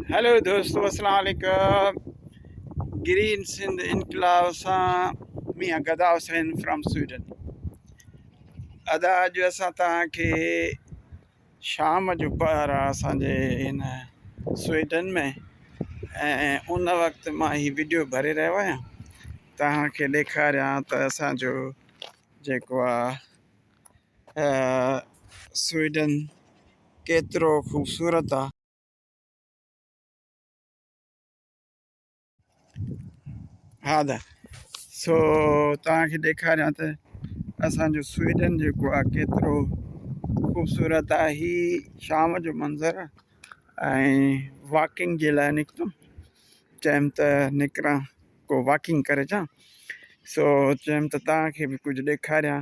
Hello دوستو السلام عليڪم گرين سنڌ انقلاب سان ميان گدا حسين فرام سويڊن ادا اڄ اسان تان کي شام جو پهر آ اسان جي ان سويڊن ۾ ۽ ان وقت مان هي ويڊيو ڀري رهيو آهيان تان کي ڏيکاريان ته اسان جو جيڪو آ سوئيڊن ڪيترو خوبصورت آ. هادا سو توهان کي ڏيکاريان ته اسان جو سوئيڊن جيڪو آ ڪيترو خوبصورت آ هي شام جو منظر آ ۽ واڪنگ جي لاء نڪتم چيم ته نڪران ڪو واڪنگ ڪري اچان سو چيم ته توهان کي به ڪجهه ڏيکاريان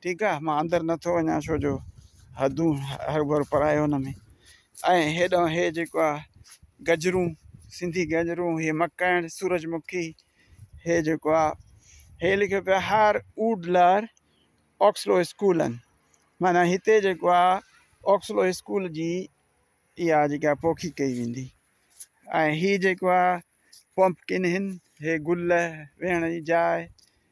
ٺيڪ آ مان اندر نه ٿو وڃان ڇو جو حدون هر ڀر پرايو ان ۾ ۽ هيڏانهن هي جيڪو آ گجرون سنڌي گجرون هي مکڻ سورج مکي هي جيڪو آ هي لکيو پيا هار اوڊ لار آڪسلو اسڪولن معنی هتي جيڪو آ آڪسلو اسڪول جي اها جيڪا آ پوکي ڪئي ويندي ۽ هي جيڪو آ پمپڪن هن هي گل ويهڻ جي جاء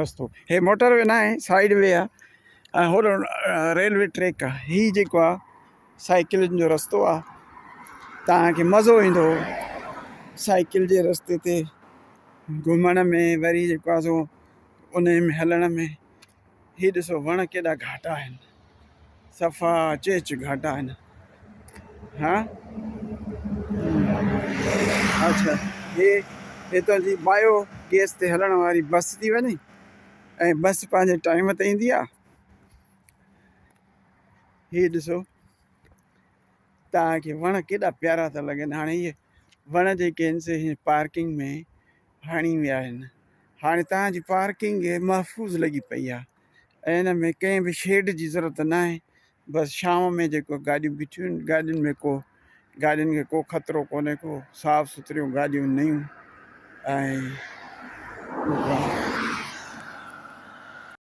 رستو هي موٽر وي ناهي سائيڊ وي آ ۽ هور ريلوي ٽريڪ آ هي جيڪو آ سائيڪلن جو رستو آ توهان کي مزو ايندو سائيڪل جي رستي تي گهمڻ ۾ وري جيڪو آ سو انهي ۾ هلڻ ۾ هي ڏسو وڻ ڪيڏا گهاٽا آهن صفا چيچ گهاٽا آهن ها اچھا هي هتان جي بايو گيس تي هلڻ واري بس ٿي وڃي ۽ بس پنهنجي ٽائيم تي ايندي آ هي ڏسو تان کي وڻ ڪيڏا پيارا ٿا لڳن هاڻي هي وڻ جيڪي آهن سي پارڪنگ ۾ هڻي ويا آهن هاڻي توهان جي پارڪنگ محفوظ لڳي پئي آهي ۽ ان ۾ ڪنهن به شيڊ جي ضرورت نه آهي بس شام ۾ جيڪو گاڏيون بيٺيون آهن گاڏين ۾ ڪو گاڏين کي ڪو خطرو ڪونهي ڪو صاف سٿريون گاڏيون نيون ۽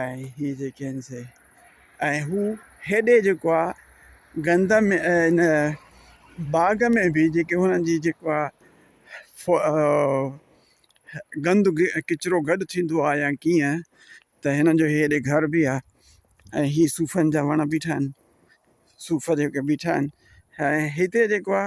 ۽ هي جيڪي آهن سي. ۽ هو هيڏي جيڪو آ گند ۾ ان باغ ۾ به جيڪي هنن جي جيڪو آ گند ڪچرو گڏ ٿيندو آ يا ڪيئن ته هنن جو هيڏي گهر به آ ۽ هي صوفن جا وڻ بيٺا آهن صوف جيڪي بيٺا آهن ۽ هتي جيڪو آ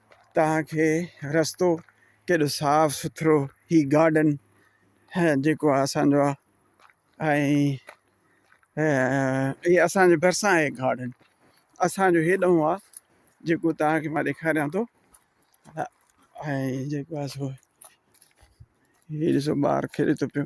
توهان کي رستو ڪيڏو صاف سٿرو هي گارڊن جيڪو اسانجو آ ۽ اسانجي ڀرسان آهي گارڊن اسانجو هيڏانهن آ جيڪو توهان کي مان ڏيکاريان ٿو ۽ جيڪو آ سو هي ڏسو ٻار کيڏي ٿو پيو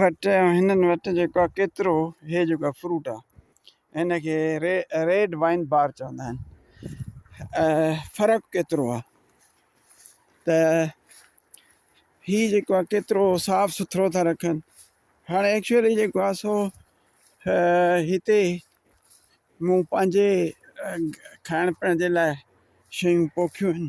وٽ ۽ هنن وٽ جيڪو آ ڪيترو هي جيڪو آ فروٽ آ هن کي ري ريڊ وائن بار چوندا آهن فرق ڪيترو آ ته هي جيڪو آ ڪيترو صاف سٿرو ٿا رکن هاڻ ايڪچوئلي جيڪو آ سو هتي مون پنهنجي کائڻ پيئڻ جي لاء شيون پوکيون آهن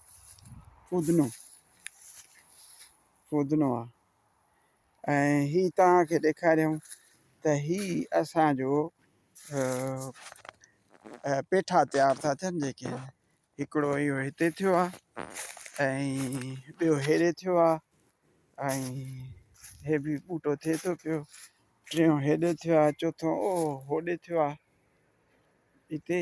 فودنو فودنو آ ۽ هي توهان کي ڏيکاريون ته هي اسان جو پيٺا تيار ٿا ٿين جيڪي هڪڙو اهو هتي ٿيو آ ۽ ٻيو هيڏي ٿيو آ ۽ هي به ٻوٽو ٿئي ٿو پيو ٽيون هيڏي ٿيو آ چوٿون او هوڏي ٿيو آ هتي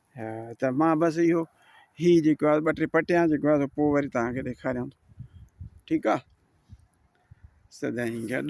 ها ته مان بس اهو هي جيڪو آهي ٻه ٽي پٽيان جيڪو آهي پوء وري تهانکي ڏيکاريان ٿو ٺيڪ آهي سدائين گڏ